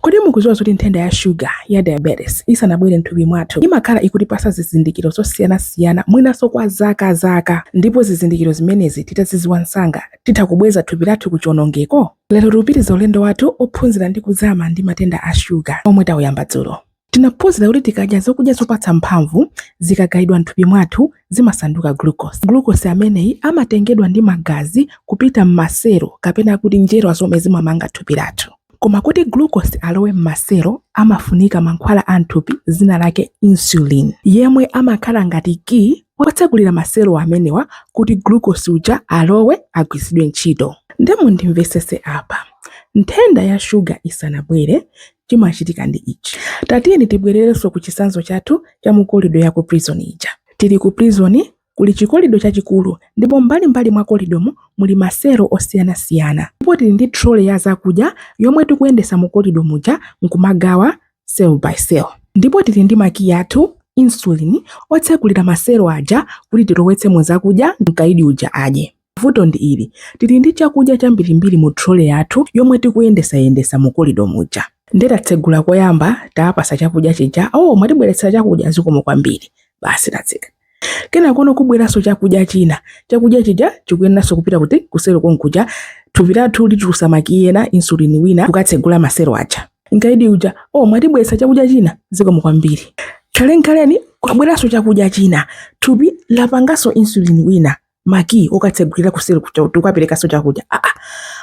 Kodi mukudziwa zoti nthenda ya shuga ya diabetes isanabwere m'thupi mwathu imakhala ikutipatsa zizindikiro zosiyanasiyana mwinanso kwa zaka zaka ndipo zizindikiro zimenezi titazidziwa msanga titha kubweza thupi lathu ku chionongeko? Lero tikupitiriza ulendo wathu ophunzira ndi kuzama ndi matenda a shuga omwe tauyamba dzulo. Tinaphunzira kuti tikadya zokudya zopatsa mphamvu, zikagayidwa m'thupi mwathu zimasanduka glucose. Glucose ameneyi amatengedwa ndi magazi kupita m'maselo kapena kuti njerwa zomwe zimamanga thupi lathu. Koma kuti glucose alowe m'maselo amafunika mankhwala a m'thupi dzina lake insulin, yemwe amakhala ngati kiyi wotsegulira maselo amenewa kuti glucose uja alowe, agwiritsidwe ntchito. Nde mundimvetsetse apa. Nthenda ya shuga isanabwere, chimachitika ndi ichi. Tatiyeni tibwererenso ku chitsanzo chathu cha mu kolido ya ku prison ija. Tili ku prison, Kuli chikolido chachikulu ndipo mbalimbali mwa kolidomo muli maselo osiyanasiyana. Ndipo tili ndi trolley ya zakudya yomwe tikuyendetsa mu kolido muja n'kumagawa cell by cell. Ndipo tili ndi makiyi athu, insulin, otsegulira maselo aja kuti tilowetsemo zakudya mkaidi uja adye. Vuto ndi ili, tili ndi chakudya chambirimbiri mu trolley yathu yomwe tikuyendesayendesa mu kolido muja. Nde tatsegula koyamba, tawapasa chakudya chija, oh mwatibweretsera chakudya zikomo kwambiri. Basi tatseka. Kenakono kubweranso chakudya china. Chakudya chija chikuyeneranso kupita kuti kuselo konkuja thupi lathu litulusa makiyi ena, insulin wina kukatsegula maselo aja. Mkaidi uja, oh mwatibweretsa chakudya china zikomo kwambiri. Khalenikhaleni kwabweranso chakudya china, thupi lapanganso insulin wina makiyi okatsegulira kuselo kuja kuti tikaperekenso chakudya aa ah, ah.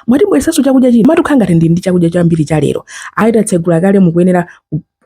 mwatibweresanso chakudya china koma tikukhala ngati ndi ndi chakudya chambiri cha lero ayi tatsegula kale mukuyenera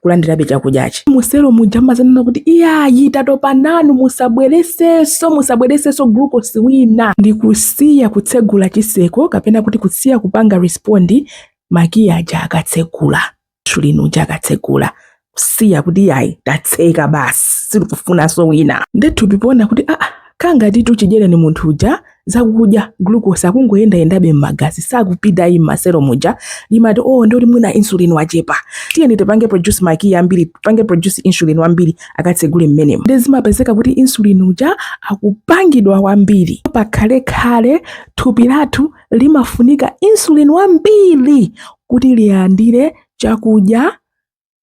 kulandirabe chakudyachi muselo muja amadzanena kuti iyayi tatopa nanu musabweresenso musabweresenso glukosi wina ndi kusiya kutsegula chiseko kapena kuti kusiya kupanga respondi makiyi aja akatsegula insulin uja akatsegula kusiya kuti iyayi tatseka basi sitikufunanso wina nde thupi poona kuti aa kangati chidyereni munthu uja zakudya glucose akungoyendayendabe m'magazi sakupita ayi m'maselo muja limati o oh, ndoti mwina insulin wachepa tiyeni tipange produce makiyi ambiri tipange produce insulin wambiri akatsegule mmenemo nde zimapezeka kuti insulin uja akupangidwa wambiri pakhalekhale thupi lathu limafunika insulin wambiri kuti lilandire chakudya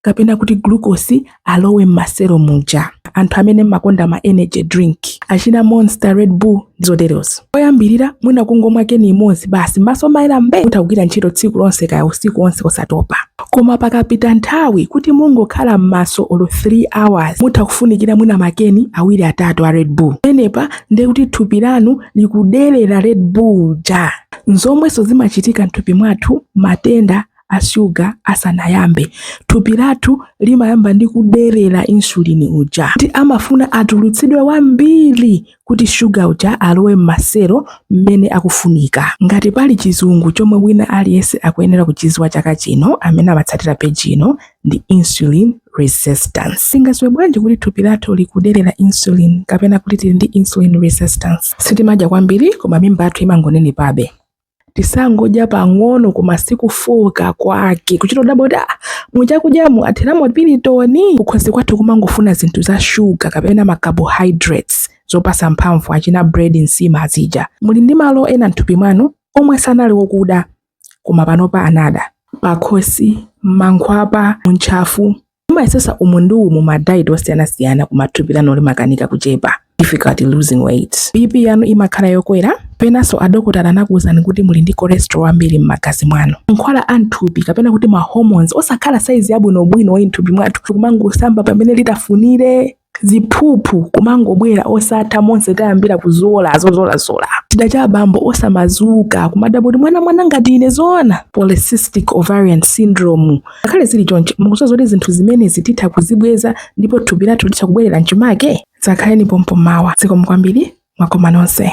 kapena kuti glucose alowe m'maselo muja anthu amene mmakonda ma energy drink achina monster red bull zoterezo oyambirira mwina kungomwa keni imodzi basi m'maso mmayera mbe mutha kugwira ntchito tsiku lonse kaya usiku onse osatopa koma pakapita nthawi kuti mungokhala m'maso olo 3 hours mutha kufunikira mwina makeni awiri atatu a red bull penepa ndiye kuti thupi lanu likuderera red bull uja nzomwenso zimachitika mthupi mwathu matenda a shuga asanayambe thupi lathu limayamba ndi kuderera insulini uja kuti amafuna atulutsidwe wambiri kuti shuga uja alowe m'maselo mmene akufunika ngati pali chizungu chomwe wina aliyense akuyenera kuchidziwa chaka chino amene amatsatira peji ino ndi insulin resistance. Tingadziwe bwanji kuti thupi lathu likuderera insulin kapena kuti tili ndi insulin resistance? Sitimadya kwambiri koma mimba yathu imangonenepabe. Tisangodya pang'ono koma sikufooka kwake kuchita kudabwa kuti ah, muchakudyamu atheramo pilitoni. Kukhosi kwathu kumangofuna zinthu za shuga kapena ma carbohydrates zopasa mphamvu achina bread, nsima azijazi. Muli ndi malo ena mthupi mwanu omwe sanali okuda koma panopa anada pakhosi m'mankhwapa muntchafu mumayesetsa umu ndi umu ma diet osiyanasiyana koma thupi lanu limakanika kuchepa difficulty losing weight bp yanu imakhala yokwera penanso adokotala anakuwuzani kuti muli ndi cholesterol wambiri m'magazi mwanu mankhwala a mthupi kapena kuti ma hormones osakhala saizi yabwinobwino wayi mthupi mwathu kumangosamba pamene litafunire ziphuphu kumangobwera osatha monse tayambira kuzola zozolazola chida cha abambo osamadzuka kumadabwa kuti mwana mwana ngati ine zoona polycystic ovarian syndrome ngakhale zili choncho mukudziwa zoti zinthu zimenezi titha kuzibweza ndipo thupi lathu litha kubwerera mchimake dzakhaleni pompo mawa zikomo kwambiri mwakoma nonse